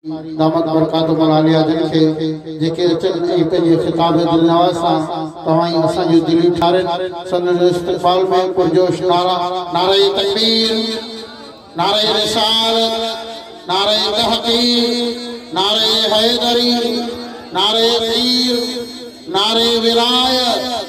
دامت برڪاتهم العاليه جن کي جيڪي اچن ۽ پنهنجي خطاب دلنواز سان توهان ۽ اسان جون دليون ٺارين سندن استقبال ۾ پرجوش نعرا نعره تڪبير نعره رسالت نعره تحقيق نعره حيدري نعره پير نعره ولايت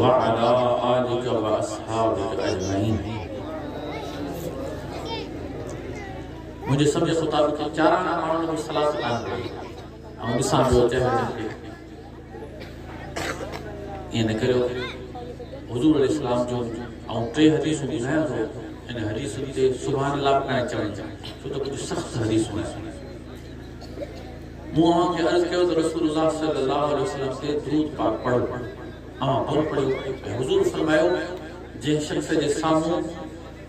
وعلي آلک واصحابک اجمعين منهنجي سمجهه مطابق چاران ماڻهن جو صلاح سلام ڪري ۽ ڏسان پيو ته هن کي ائين نه ڪريو حضور عليه السلام جو ۽ ٽي حديثون ٻڌايان ٿو ان حديثن تي سبحان الله پڻ چوي ڇو ته ڪجهه سخت حديثون آهن مون اوهان کي عرض ڪيو ته رسول الله صلي الله عليه وسلم تي درود پاڪ پڙهو. اوهان ڪونه پڙهيو ۽ حضور فرمايو، جنهن شخص جي سامهون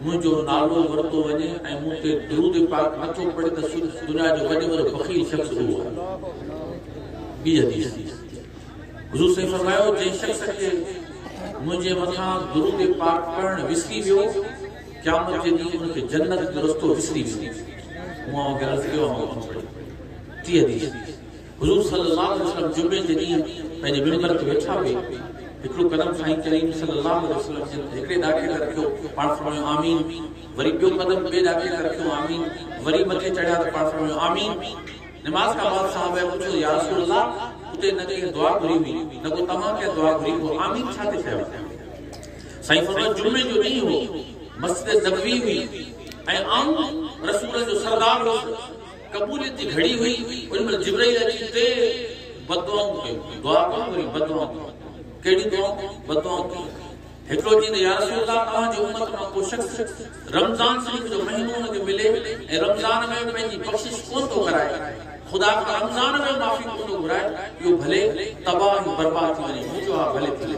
منهنجو نالو ورتو وڃي ۽ مون تي درود پاڪ نه ٿو پڙهي ته سو دنيا جو وڏي وڏو بخيل شخص اهو آهي. ٻي حديث، حضور صلي فرمايو، جنهن شخص کي منهنجي مٿان درود پاڪ پڙهڻ وسري ويو، قيامت جي ڏينهن ان کي جنت جو رستو وسري ويندو. مون اوهان کي عرض ڪيو آهي مان اٿي پڙهي. ٽي حديث، حضور صلي الله عليه وسلم جمعي جي ڏينهن پنهنجي منبر تي ويٺا هئي، هڪڙو قدم سائين ڪريم صلي الله عليه وسلم جن هڪڙي ڏاڪي تي رکيو، پاڻ فرمايو آمين، وري ٻيو قدم ٻئي ڏاڪي تي رکيو آمين، وري مٿي چڙهيا ته پاڻ فرمايو آمين. نماز کان بعد صحابه پڇيو يا رسول الله اتي نه ڪنهن دعا گهري هئي نه ڪو توهان ڪنهن دعا گهري پوء آمين ڇا تي چيو؟ سائين فرمايو جمعي جو ڏينهن هو، مسجد نبوي هئي ۽ آئون رسولن جو سردار هوس، قبوليت جي گهڙي هئي، ان مهل جبرئيل اچي ٽي بددعائون ڪيون، دعا ڪيون وري بددعائون ڪيون، ڪهڙيون دعائون؟ بددعائون ڪيون، هڪڙو چيو ته يا رسول الله توهان جي امت مان ڪو شخص رمضان شريف جو مهينو ان کي ملي ۽ رمضان ۾ پنهنجي بخشش ڪونه ٿو ڪرائي، خدا کان رمضان ۾ معافي ڪونه ٿو گهرائي، اهو ڀلي تباهه ۽ برباد ٿي وڃي، مون چيو ها ڀلي ٿي وڃي.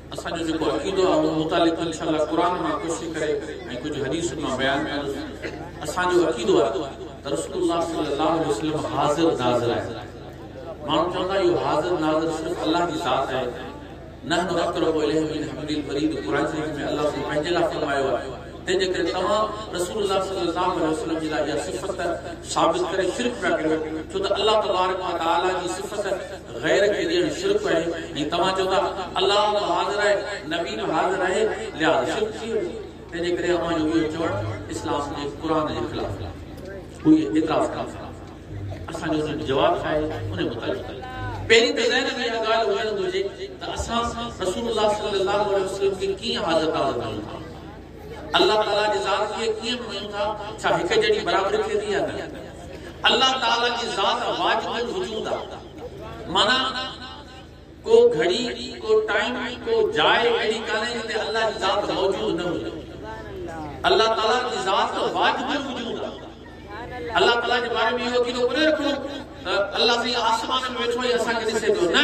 اسان جو جيڪو عقيدو آهي ان متعلق انشاء الله قرآن مان ڪوشش ڪري ۽ ڪجهه حديثن مان بيان ڪندس. اسان جو عقيدو آهي ته رسول الله صلي الله عليه وسلم حاضر ناظر آهي. ماڻهو چوندا اهو حاضر ناظر صرف الله جي ذات آهي. نحن اقرب اليه من حبل الوريد قرآن شريف ۾ الله سائين پنهنجي لاء فرمايو آهي. تنهن جي ڪري توهان رسول الله صلي الله عليه وسلم جي لاء اها صفت ثابت ڪري شرڪ پيا ڪريو ڇو ته الله تبارڪ وتعالي جي صفت غير کي ڏيڻ شرڪ آهي ۽ توهان چئو ٿا الله به حاضر آهي نبي به حاضر آهي لهٰذا شرڪ ٿي ويو تنهنجي ڪري اوهان جو اهو چوڻ اسلام جي قرآن جي خلاف آهي هو اهي اعتراض ڪن ٿا اسان جو انهن جو جواب ڇا آهي ان متعلق پهرين ته ذهن ۾ اها ڳالهه هجڻ گهرجي ته اسان رسول الله صلي الله عليه وسلم کي ڪيئن حاضر ناظر مڃون ٿا الله تعالي جي ذات کي ڪيئن مڃون ٿا؟ ڇا هڪ جهڙي برابري ٿئي ٿي يا نه؟ الله تعالي جي ذات واجب الوجود آهي. معنيٰ ڪو گهڙي، ڪو ٽائيم، ڪو جاء اهڙي ڪانهي جتي الله جي ذات موجود نه هجي. الله تعالي جي ذات واجب الوجود آهي. الله تعالي جي باري ۾ اهو عقيدو ڪونه رکڻو ته الله سائين آسمان ۾ ويٺو آهي ۽ اسان کي ڏسي پيو، نه!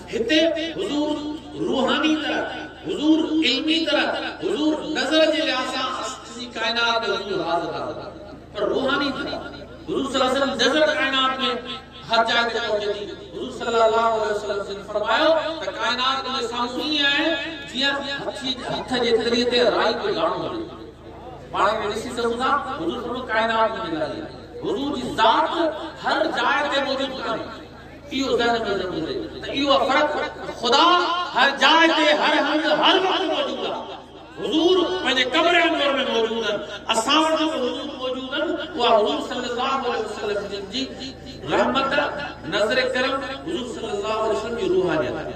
هتي حضور روحاني طرح، حضور علمي طرح، حضور نظر جي لحاظ سان سڄي ڪائنات ۾ حضور حاضر ناظر آهي پر روحاني طرح حضور صلي الله عليه وسلم نظر ڪائنات ۾ هر جاء تي پهچي ٿي حضور صلي الله عليه وسلم جن فرمايو ته ڪائنات تنهنجي سامهون ائين آهي جيئن هٿي هٿ جي تري تي رائي جو داڻو هجي پاڻ کي ڏسي سگهون ٿا حضور فرمايو ڪائنات منهنجي لاء آهي حضور جي ذات هر جاء تي موجود ڪانهي اهو ذهن ۾ ضرور هجي ته اهو فرق ته خدا هر جاء تي هر هنڌ هر وقت موجود آهي. حضور پنهنجي قبر انور ۾ موجود آهن، اسان وٽ به حضور موجود آهن، اها حضور صلي الله عليه وسلم جن جي رحمت، نظر ڪرم، حضور صلي الله عليه وسلم جي روحانيت آهي.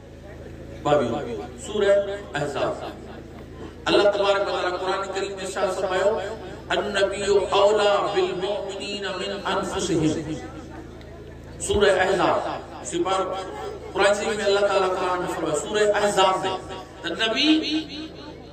ٻاويهون، سورة احزاب، الله تبارڪ وتعاليٰ قرآن ڪريم ۾ ارشاد فرمايو، النبي اولیٰ بالمؤمنين من انفسهم، سورة احزاب، سيپارو، قرآن شريف ۾ الله تعاليٰ قرآن ۾ فرمايو، سورة احزاب ۾، ته نبي،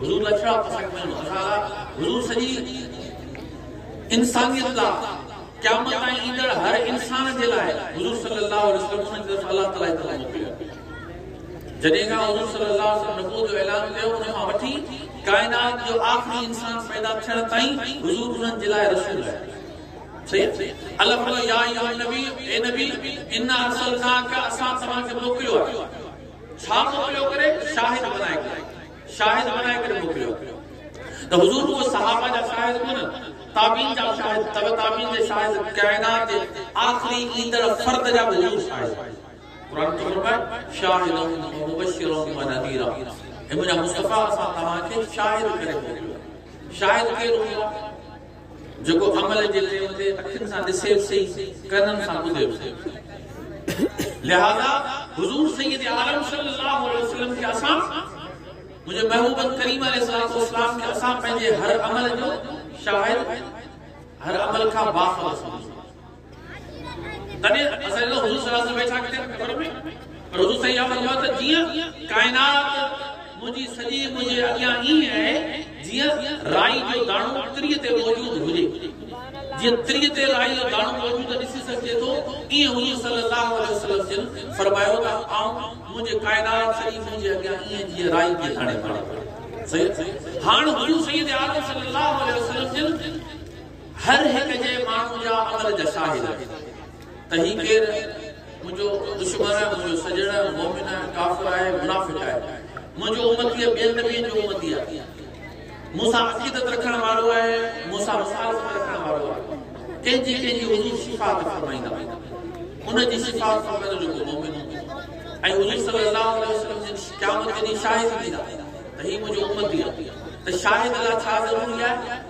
حضور اشرف پسند ۾ مزارا حضور سڄي انسانيت لا قيامت تائين ايندڙ هر انسان جي لاء حضور صلي الله علیه وسلم ان جي طرف الله تعالي طرف موڪليو جڏهن کان حضور صلي الله علیه وسلم نبوت جو اعلان ڪيو ان کان وٺي ڪائنات جو آخري انسان پيدا ٿيڻ تائين حضور انهن جي لاء رسول آهي صحيح الله فرمايو يا ايها النبي اي نبي ان ارسلناک اسان توهان کي موڪليو آهي ڇا ٿو پيو ڪري شاهد بنائي ڪري شاهد بنائي ڪري موڪليو ته حضور ڪو صحابه جا شاهد ڪونه تابعين جا شاهد تبع تابعين جا شاهد ڪائنات جي آخري ايندڙ فرد جا به حضور شاهد قرآن ٿو فرمائي شاهد مبشر و نذير اي منهنجا مصطفيٰ اسان توهان کي شاهد ڪري موڪليو شاهد ڪير هوندو جيڪو عمل جي چيو ٿي، اکين سان ڏسي به سهي، ڪنن سان ٻڌي به سهي. لهذا حضور سيد عالم صلي الله عليه وسلم کي اسان، منهنجي محبوب ڪريم عليه الصلوة والسلام کي اسان پنهنجي هر عمل جو شاهد، هر عمل کان باخبر سمجهون. تڏهن اسان جو حضور صلي الله علیه وسلم ڇا ڪيو خبر پئي پر حضور صلي الله علیه وسلم فرمايو ته جيئن ڪائنات منهنجي سڄي منهنجي اڳيان ائين آهي جيئن رائي جو داڻو تري تي موجود هجي جيئن تري تي رائي جو داڻو موجود ڏسي سگهجي ٿو ائين حضور صلي الله علیه وسلم جن فرمايو ته آئون منهنجي ڪائنات سڄي منهنجي اڳيان ائين جيئن رائي جي داڻي وارو صحيح هاڻ حضور سيد عالم صلي الله علیه وسلم جن هر هڪ جي ماڻهو جا عمل جا شاهد آهن ته هي ڪير منهنجو دشمن آهي، منهنجو سڄڻ آهي، مؤمن آهي، ڪافر آهي، منافق آهي، منهنجو امتي ٻين نبين جو امتي آهي، مون سان عقيدت رکڻ وارو آهي، مون سان مخالفت رکڻ وارو آهي، ڪنهن جي ڪنهن جي حضور صفات فرمائيندا ان جي صفات فرمائيندو جيڪو مؤمن هوندو ۽ حضور صلي الله عليه وسلم جن قيامت جي ڏينهن شاهد ڏيندا ته هي منهنجو امتي آهي ته شاهد لاء ڇا ضروري آهي؟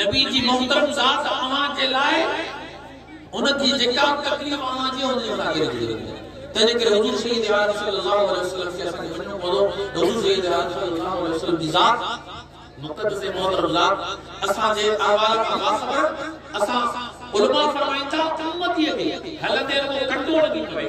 نبي جي محترم ذات اوهان جي لاء ان جي جيڪا به تڪليف اوهان جي ان جي مٿان ڪري ڇڏي وڃي تنهنجي ڪري حضور سيد عالم صلي الله عليه وسلم کي اسان کي وڃڻو پوندو حضور سيد عالم صلي الله عليه وسلم جي ذات مقدس ۽ محترم ذات اسان جي احوال کان باخبر اسان علماء فرمائن ٿا امتي کي هلندي رڳو ڪنڊو لڳي پوي.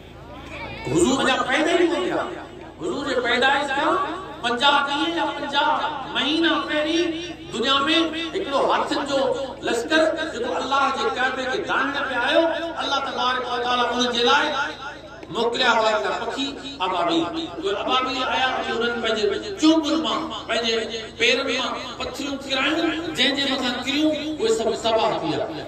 حضور اڃا پيدا ئي ڪونه ٿيا. حضور جي پيدائش کان پنجاهه ڏينهن يا پنجاهه مهينا پهرين دنيا ۾ هڪڙو هاٿين جو لشڪر جيڪو الله جي ڪعبي کي داهڻ پئي آيو، الله تبارڪ و تعاليٰ انهن جي لاء موڪليا هئا هڪڙا پکي ابابيل. اهي ابابيل آيا ۽ انهن پنهنجي چونبن مان، پنهنجي پيرن مان پٿريون ڪرايون، جنهن جي مٿان ڪريون اهي سڀ تباهه ٿي ويا.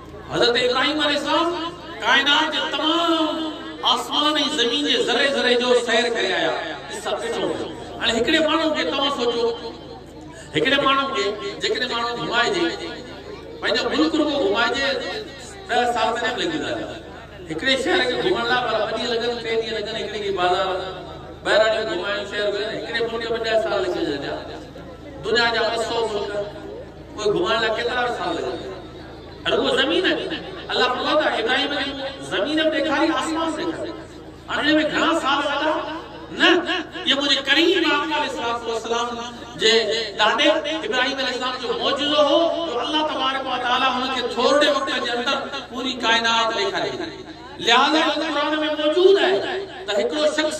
حضرت ابراهيم عليه السلام ڪائنات جي تمام آسمان ۽ زمين جي ذري ذري جو سير ڪري آيا قصه ڏٺو ويو هاڻي هڪڙي ماڻهو کي توهان سوچو هڪڙي ماڻهو کي جيڪڏهن ماڻهو گهمائجي پنهنجو ملڪ رڳو گهمائجي ڏهه سال تڏهن به لڳي ويندا هڪڙي شهر کي گهمڻ لاء پر ٻه ڏينهن لڳن ٽي ڏينهن لڳن هڪڙي کي بازار ٻهراڙيون گهمائڻ شهر گهمائڻ هڪڙي ملڪ ۾ ڏهه سال لڳي ويندا دنيا جا ٻه سؤ ملڪ اهي گهمائڻ لاء ڪيترا سال لڳن رڳو زمين آهي. الله فرمائي ٿو ابراهيم کي مون زمين به ڏيکاري آسمان به ڏيکاري. هاڻ ان ۾ گهڻا سال وڏا نه اهو منهنجي ڪريم آقا عليه الصلوة والسلام جي ڏاڏي ابراهيم عليه السلام جو معجزو هو جو الله تبارڪ وتعالي هن کي ٿورڙي وقت جي اندر پوري ڪائنات ڏيکاري ڇڏي لهذا ان قرآن ۾ موجود آهي ته هڪڙو شخص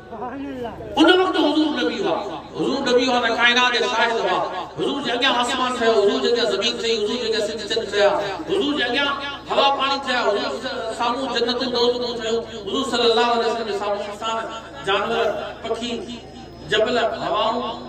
ان وقت حضور نبي هئا حضور نبي هئا ته ڪائنات جا شاهد هئا حضور جي اڳيان آسمان ٺهيو حضور جي اڳيان زمين ٺهي حضور جي اڳيان سج چنڊ ٺهيا حضور جي اڳيان هوا پاڻي ٺهيا حضور سامهون جنتون دوزخون ٺهيون حضور صلي الله عليه وسلم جي سامهون انسان جانور پکي جبل هوائون